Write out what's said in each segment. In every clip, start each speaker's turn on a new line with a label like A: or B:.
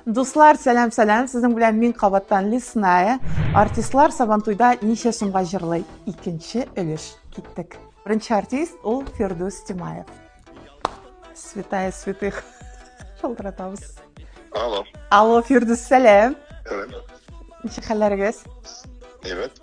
A: Дуслар, сәлам, сәлам. Сезнең белән мин кабаттан Лесная. Артистлар Сабантуйда ничә сумга җырлый? Икенче өлеш. Киттек. Беренче артист ул Фирдус Тимаев. Святая святых. Шалтыратабыз. Алло.
B: Алло, Фирдус,
A: сәлам.
B: Ничек
A: хәлләрегез? Әйбәт.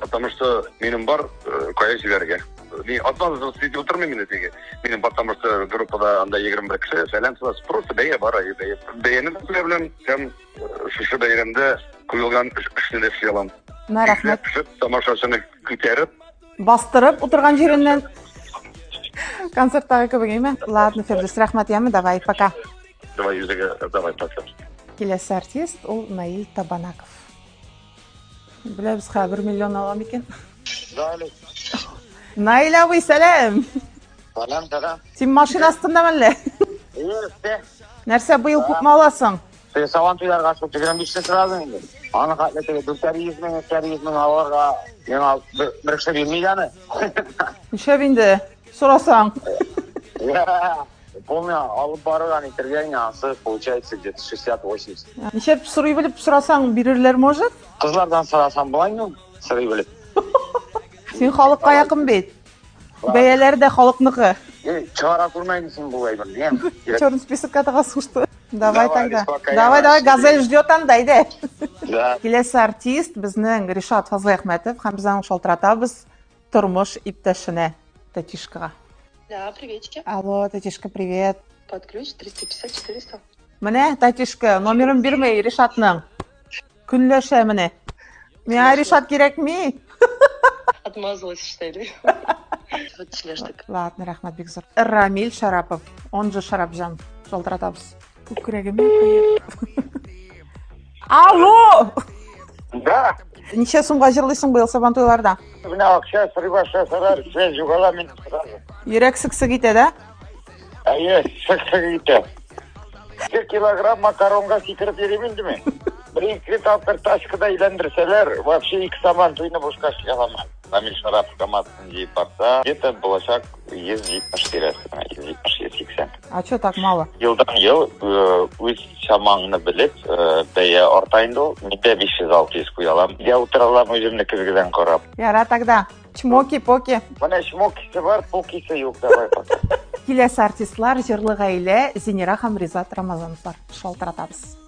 B: Потому что минем бар, э, кая җибәрергә. Мин атмазыз сидеть утырмыйм инде теге. Минем потому что группада анда 21 кеше, фәлән фәлән. Просто бәя бар, ай бәя. Бәяне белә беләм, һәм э, шушы бәйрәмдә куелган эшне дә эшли алам. Мә рәхмәт. Пешеп,
A: тамашачыны
B: күтәреп, Бастырып
A: утырган җиреннән. Концерттагы кебек әйме? Ладно, Фирдүс, рәхмәт яме, давай, пока. давай йөзегә,
B: давай пасып. Киләсе артист
A: ул Наил Табанаков. Беләбез хә, бер миллион ала микән? Далек. Наил абый, сәлам! Салам, салам.
C: Син машина
A: астында мәллә? Юрте. Нәрсә быел күпме аласың? Ты саван туйларга
C: шул 25 сен сразу инде. Аны хәтле теге 400 мең, 300 мең алырга, миңа бер кеше бирми дәне. Нишләп
A: инде? Сорасаң.
C: Бу миңа алып барырга әйтергә иң ансы получается где-то 60-80. Ничек сорый
A: белеп сорасаң бирерләр может? Кызлардан сорасаң
C: болай ну, сорый белеп.
A: Син халыкка якын бит. Бәяләр дә халыкныкы. Чыгара
C: күрмәйме син бу әйберне? Черный списокка
A: тыгасың что? Давай тогда. Давай, давай, газель
C: ждет анда,
A: әйдә.
C: Киләсе артист
A: безнең Ришат Фазлыәхмәтов һәм без аны шалтыратабыз. Тормыш иптәшенә, тәтишкага. Да,
D: приветики. Алло, тәтишка,
A: привет. Под ключ 350 400.
D: Менә,
A: тәтишка, номерын бирмәй Ришатның. Көнләшә менә. Миңа Ришат кирәкми.
D: Отмазалась, что ли? Ладно, рәхмәт бик зур.
A: Рамиль Шарапов, он же Шарапҗан. Шалтыратабыз. Күкрәгемә Алло! Да.
C: Ничә сумга
A: җырлыйсың быел сабан туйларда? Менә акча
C: сорый башласалар, сез югала мин. Йөрәк сыксык итә
A: дә? Әйе,
C: сыксык итә. Ике килограмм макаронга сикереп йөрим инде мин. Бер ике тапкыр тачкада әйләндерсәләр, вообще ике сабан туйны бушка чыгаламан. Намил Шарапов командасына җыеп барса, где-то булачак 170 тирәсенә, 170-180. А что так
A: мало? Елдан ел
C: үз чамаңны белеп, бәя арта инде ул. Мин дә 500-600 куя алам. Я утыра алам үземне көзгедән карап. Яра тогда.
A: Чмоки-поки. Менә чмокисы
C: бар, покисы юк. Давай пока. Киләсе артистлар,
A: җырлы гаилә, Зинера һәм Ризат Рамазановлар. Шалтыратабыз.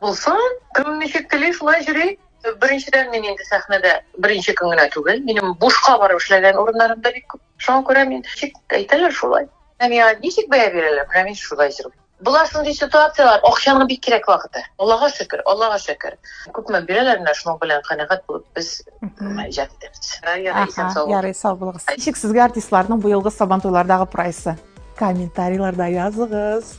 A: Булсын, кем
D: ничек тели, шулай йөри. Беренчедән мин инде сәхнәдә беренче көн генә түгел, минем бушка барып эшләгән урыннарым да бик күп. Шуңа күрә мин ничек әйтәләр шулай. Ә миңа ничек бәя бирәләр, менә мин шулай йөрим. Була шундый ситуацияләр, акчаның бик кирәк вакыты. Аллага шөкер, Аллага шөкер. Күпме бирәләр, менә шуның белән канәгать булып без иҗат итәбез. Ярый, исән сау булыгыз. Ярый,
A: сау булыгыз. Ничек сезгә артистларның быелгы Сабантуйлардагы прайсы? Комментарийларда языгыз.